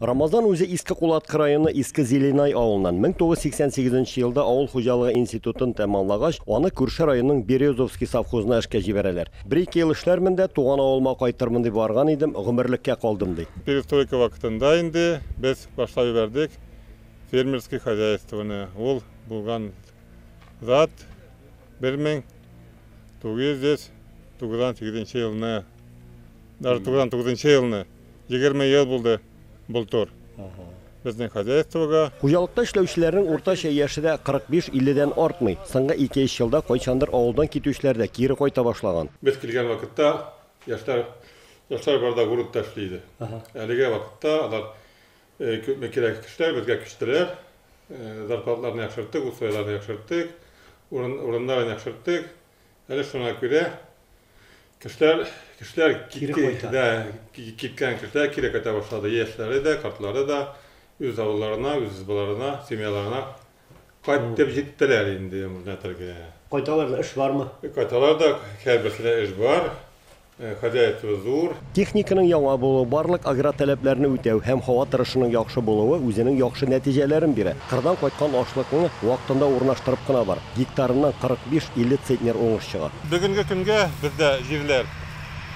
Рамазан үзе Иске Кулаткы районы Иске Зеленай авылыннан. 1988 елда авыл хуҗалыгы институтын тәмамлагач, аны күрше районның Березовский совхозына эшкә җибәрәләр. Бер-ике ел эшләрмен дә, туган авылыма кайтырмын дип барган идем, гомерлеккә калдым, ди. Перестройка вакытында инде без башлап җибәрдек фермерский хозяйствоны. Ул булган зат 1998 елны, даже 99 елны. Егерме ел булды былтур безнең хозяйствога. Хуҗалыкта эшләүчеләрнең уртача яше дә 45-50 дән артмый. Соңгы ике-өч елда кайчандыр авылдан китүчеләр дә кире кайта башлаган. Без килгән вакытта яшьләр яшьләр бар да грунтта эшли иде. Әлегә вакытта алар күпме кирәк кешеләр безгә күчтеләр. Зарплатларны яхшырттык, условияләрне яхшырттык, урын урыннарын яхшырттык. Әле шуңа күрә Кешеләр, кешеләр кире кайта. Да, киткән кешеләр кире кайта башлады. Яшьләре дә, картлары да үз авылларына, үз избаларына, семьяларына кайтып җиттеләр инде Мурнәтергә. Кайталар да, эш бармы? Кайталар да, һәрберсенә эш бар. Хозяйство зур. Техниканың яңа булуы, барлык агротәләпләрне үтәү һәм һава торышының яхшы булуы үзенең яхшы нәтиҗәләрен бирә. Кырдан кайткан ашлыкны вакытында урнаштырып кына бар, гектарыннан 45-50 центнер уңыш чыга. Бүгенге көнгә бездә җирләр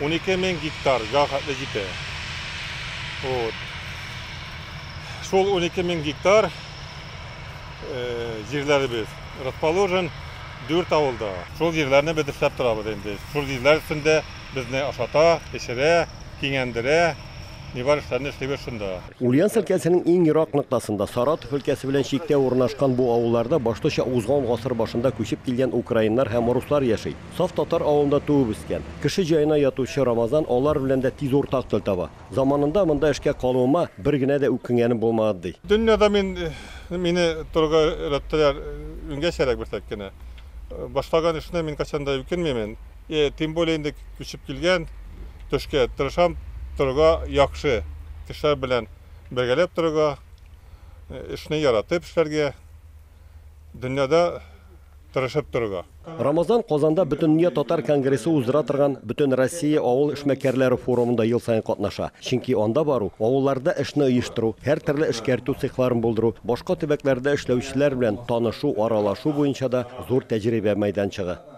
унике мең гектарга хәтле җитә. Шул унике мең гектар җирләребез расположен дүрт авылда. Шул җирләрне без эшләп торабыз инде. Шул җирләр өстендә. Безне ашата, эчерә, киңәндерә. Ни бар эшләрне эшлибез шунда. Ульяновск өлкәсенең иң ерак ноктасында, Саратов өлкәсе белән чиктә урнашкан бу авылларда башлыча узган гасыр башында күчеп килгән украиннар һәм руслар яши. Саф татар авылында туып-үскән, кеше җаена ятучы Рамазан алар белән дә тиз уртак тел таба. Заманында монда эшкә калуыма бер генә дә үкенгәнем булмады, ди. Дөньяда мин, мине торырга өйрәттеләр, иңгәчәрәк бирсәк кенә. Башлаган эшне мин кайчан да үкенмимен. Э, тем более инде күчеп килгән төшкә тырышам торырга яхшы кешеләр белән бергәләп торырга э, эшне яратып эшләргә дөньяда тырышып торырга Рамазан Казанда Бөтендөнья татар конгрессы уздыра торган Бөтен Россия авыл эшмәкәрләре форумында ел саен катнаша. Чөнки анда бару, авылларда эшне оештыру, һәр төрле эшкәртү цехларын булдыру, башка төбәкләрдә эшләүчеләр белән танышу, аралашу буенча да зур тәҗрибә мәйданчыгы.